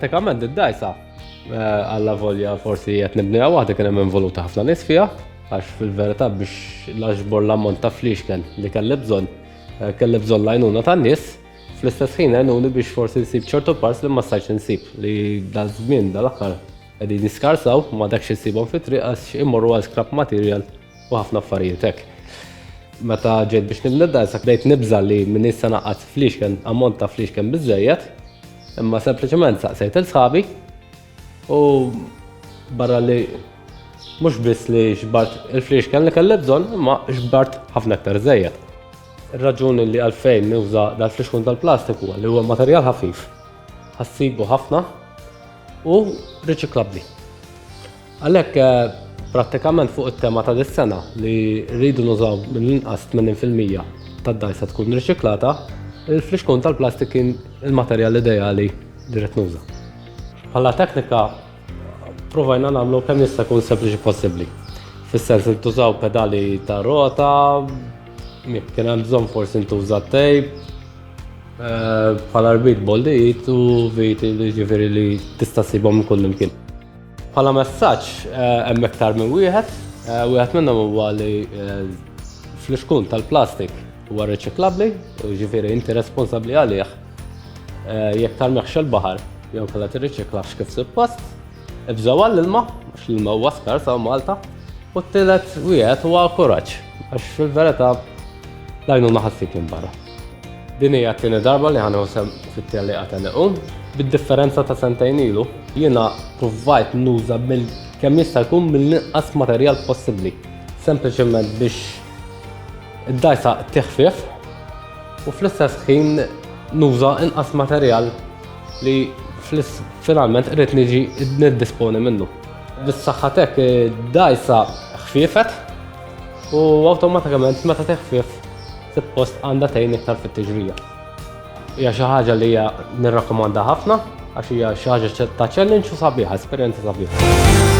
pratikament id-dajsa eh, għalla volja forsi qed nibnija waħda kien hemm involuta ħafna nies fiha għax fil-verità biex l-aġbor l-ammont ta' fliexken li kelli bżonn Eh, kelli bżonn l-għajnuna tan-nies, fl-istess ħin għajnuni biex forsi nsib ċertu pars li ma stajtx insib li dal-żmien dal-aħħar qegħdin jiskarsaw ma dakx insibhom fit-triq għax immorru għal scrap material u ħafna affarijiet hekk. Meta ġejt biex nibnidda, issa bdejt nibża li minn issa naqqas flixken, ammont ta' flixken biżejjed, imma sempliċement saqsejt il-sħabi U barra li mhux biss li xbart il-flix kelli kelli bżonn, imma xbart ħafna aktar żejjed. Ir-raġuni li għalfejn nuża dal-flix kun tal-plastiku li huwa materjal ħafif, ħassibu ħafna u riċiklabbli. Għalhekk eh, prattikament fuq it-tema ta' dis-sena li rridu nużaw mill-inqas 80% tad-dajsa tkun riċiklata, il-flixkun tal-plastik kien il-materjal ideali li rrid nuża. Bħala teknika provajna nagħmlu kemm jista' jkun sempliċi possibbli. Fis-sens li tużaw pedali ta' rota, kien hemm bżonn forsi ntuża tejp, eh, bħala rbit boldijiet u vit li ġifieri li tista' sibhom kull imkien. Bħala messaġġ eh, hemm iktar minn wieħed, eh, wieħed minnhom huwa li fl-iskun tal-plastik huwa riċiklabbli, ġifieri inti responsabbli għalih Eh, jekk tarmiħx il-baħar, jew kalla tirriċiklax kif suppost, ibżaw għall-ilma, għax l-ilma huwa skar sa' Malta, u t-tilet wieħed huwa kuraġġ, għax fil-verità lajnu naħassik minn barra. Din hija t-tieni darba li ħanħu sem fit-telli għataniqu, bid-differenza ta' sentejn ilu, jiena provajt nuża mill kemm jista' jkun mill-inqas materjal possibbli, sempliċement biex id-dajsa tiħfif u fl-istess ħin nuża inqas materjal li finalment irrid niġi niddisponi minnu. Bis-saħħatek dajsa ħfiefet u awtomatikament meta teħfief suppost għandha tgħin iktar fit-tiġrija. Hija xi ħaġa li hija nirrakkomanda ħafna għax hija xi ħaġa ta' challenge u sabiħa, esperjenza sabiħa.